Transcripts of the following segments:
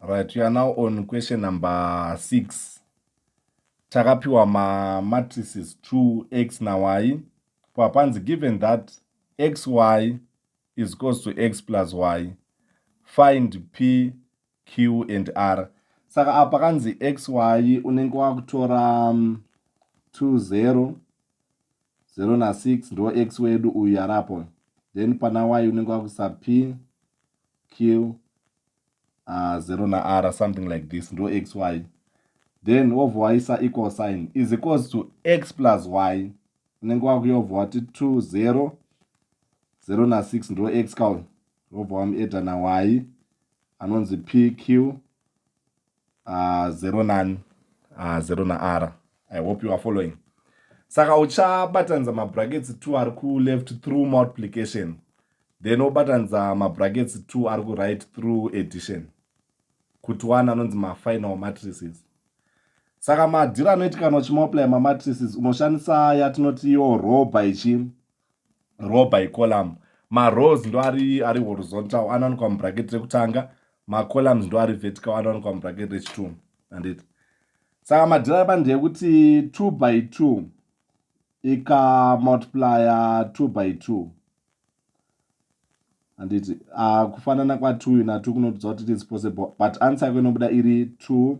right we are now on question number six takapiwa mamatrices two x nay kwapanzi given that x y is cause to x plus y find p q and r saka apa kanzi x y unenge wakutora um, two zero 0 na 6 ndo x wedu uyu yarapo then pana y unenge wakuisa p q uh, ah, 0 na r something like this ndo x y then wobva waisa equal sign is equals to x plus y unenge wakuyobva wati 2 0 0 na 6 ndo x ka uyu wobva wamueda na y anonzi p q uh, zero nan uh, zero naara i hope you are following saka uchabatanidza mabrackets two ari kuleft through multiplication then wobatanidza mabrackets two ari kuright through addition kuti one anonzi mafinal matrices saka madhiri anoitikana uchimulply mamatrices unoshandisa yatinoti yo row by chii row by column marows ndo ari ari horizontal anowanikwa mubracket rekutanga macolumns ndo ari vertical anowanikwa mubracket rechitunhu anditi saka madhira apa ndeyekuti two by two ikamultiplya two by two handiti ah, kufanana kwatwo na two kunotiudza kuti it is possible but answer yako inobuda iri two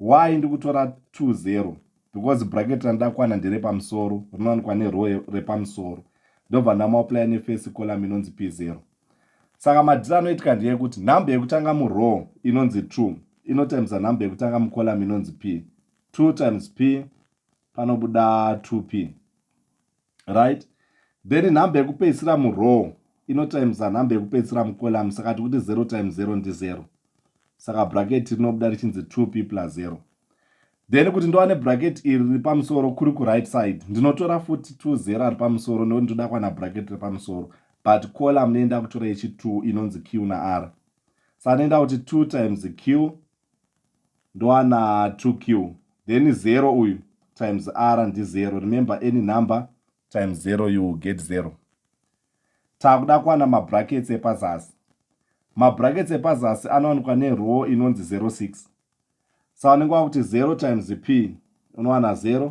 why ndikutora 20 because bracket randakwana ndere pamusoro rinowanikwa nerow repamusoro ndobva ndamauplaya nefesi column inonzi p0 saka madhiri anoitika ndeyekuti nhamba yekutanga murow inonzi 2 inotimesa nhamba yekutanga mucolumn inonzi p 2 times p panobuda 2p right then nhamba yekupedzisira murow inotimesa nhamba yekupedzisira mucolum saka tikuti 0 times 0 ndi 0 saka bracket rinobuda richinzi 2 p plus 0 then kuti ndowane bracket iri riri pamusoro kuri kuright side ndinotora futi 2 0 ari pamusoro nekuti ndoda kwana bracket riri pamusoro but colum neinda kutora yechi 2 inonzi q na r saka neinda kuti 2 times q ndoana 2q then zero uyu times r ndizero remember any number times zero you will get zero takuda kuwana mabrackets epazasi mabrackets epazasi anowanikwa nerow inonzi 06 sa unenge wakuti 0 times p unowana 0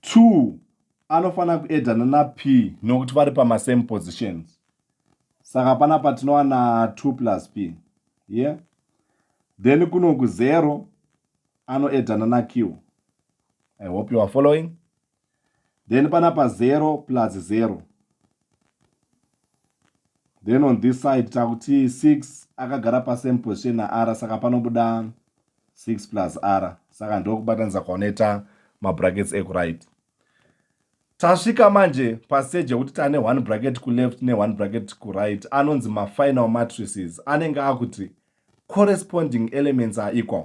two anofanira kuedana nap nokuti vari pamasame positions saka pana patinowana two plus p ye yeah? then kuno kuzero anoedana naq i hope you are following then panapa 0 plus 0 then on this side takuti 6 akagara pasame position naar saka panobuda 6 plus r saka ndokubatanidza kwaunoita mabrackets ekuright tasvika manje paseji yekuti tane one bracket kuleft neone bracket kuright anonzi mafinal matrices anenge akuti corresponding elements are equal